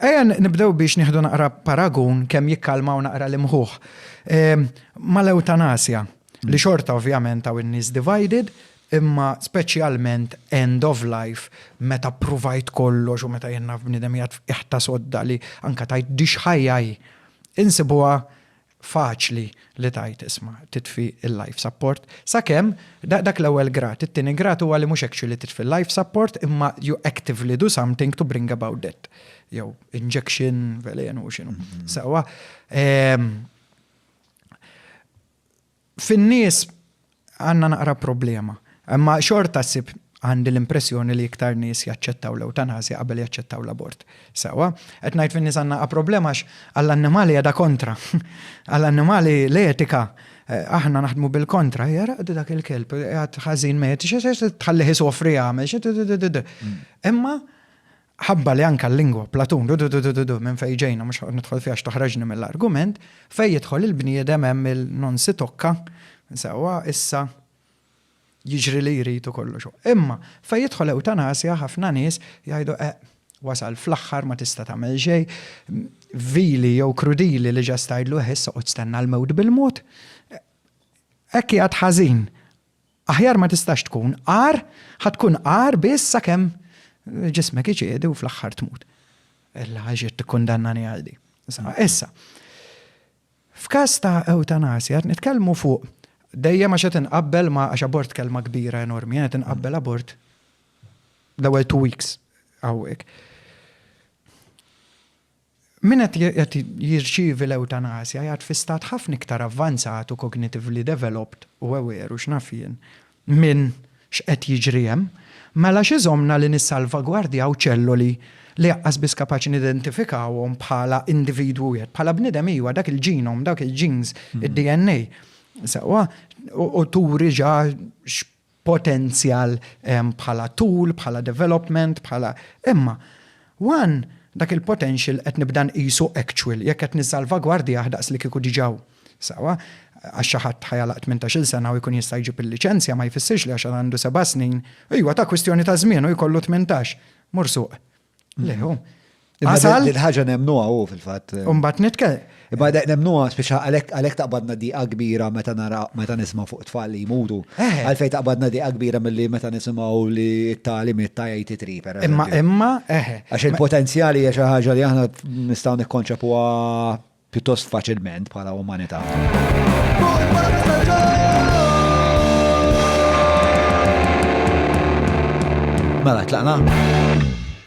Ejja nibdew biex nieħdu naqra paragun kemm jikkalmaw naqra l-imħuħ mal-ewtanasja li xorta ovvjament hawn in-nies divided imma speċjalment end of life meta ppruvajt kollox u meta jien naf bniedem qiegħed f'qiegħ ta' sodda li anke tgħid dixħajja hi. Insibuha faċli li tgħid isma' titfi l-life support sakemm dak l-ewwel grad. It-tieni grad huwa li mhux actually titfi l-life support imma you actively do something to bring about death. Jew injection, velenu, x'inhu. Sewwa. Fin-nies għandna naqra problema. Imma xorta ssib għandi l-impressjoni li iktar nies jaċċettaw l-ewtanasja qabel jaċċettaw l-abort. Sewwa. Qed ngħid fin-nies għandna naqra problema għax għall-annimali qiegħda kontra. Għall-annimali l-etika aħna naħdmu bil-kontra. Hija ara dak il-kelb qiegħed ħażin mejjet, tħallih isofri jagħmel xi. Imma Ħabba li anke l-lingwa, Platun, du-du-du-du-du-du, minn fejn ġejna, mhux ħanoqgħod nidħol fiha għax toħroġni mill-argument, fejn jidħol il-bniedem hemm il-non si tocca, sewwa, issa, jiġri li jrid u kollox hu. Imma fejn jidħol ewtanasja ħafna nies jgħidu eh, wasal fl-aħħar ma tista' tagħmel xejn, vili jew krudili li ġast tgħidlu eh issa oqgħod stenna l-mewt bil-mod. Hekk qiegħed ħażin. Aħjar ma tistax tkun, agħar ħa tkun agħar biss sakemm ġismek iċedi u fl-aħħar tmut. Ella għax qed tikkundannani għal di. Issa, f'każ ta' ewtanasja qed nitkellmu fuq dejjem għax qed inqabbel ma' għax abort kelma kbira enormi, qed inqabbel abort l-ewwel two weeks hawnhekk. Min qed jirċievi l-ewtanasja jgħad fi stat ħafna iktar avvanzat u cognitively developed u aware u x'naf jien minn x'qed jiġri hemm. Mela x'iżommna li nissalvagwardjaw ċelloli li aqqas biss kapaċi nidentifikawhom bħala individwu wieħed, bħala bniedem iwa, dak il-genome, dawk il-genes, id-DNA, sewwa, u turi ġa potenzjal bħala tul, bħala development, bħala. Imma one dak il-potential qed nibda nqisu actual jekk qed nissalvagwardjah daqs li kieku diġà hu. Sewa, għax xi ħadd ħajalaq tmintax-il sena u jkun jista' jġib il-liċenzja ma jfissirx li għax għandu seba' snin, ejwa ta' kwistjoni ta' żmien u jkollu tmintax, mur suq. Leħu. Għasal. Il-ħagġa nemnu għaw fil-fat. Umbat nitke. Imma dek nemnu għas biex għalek taqbadna di kbira meta nara meta nisma fuq tfal li jmutu. Eh. Għalfej taqbadna di kbira mill-li meta nisimaw li t-tali mitta jajti tri. Imma, imma, eħe. Eh. Għax il-potenzjali għax ħagġa li għahna nistaw nikkonċepu pjuttost faċilment bħala umanità. Mela, tlaqna?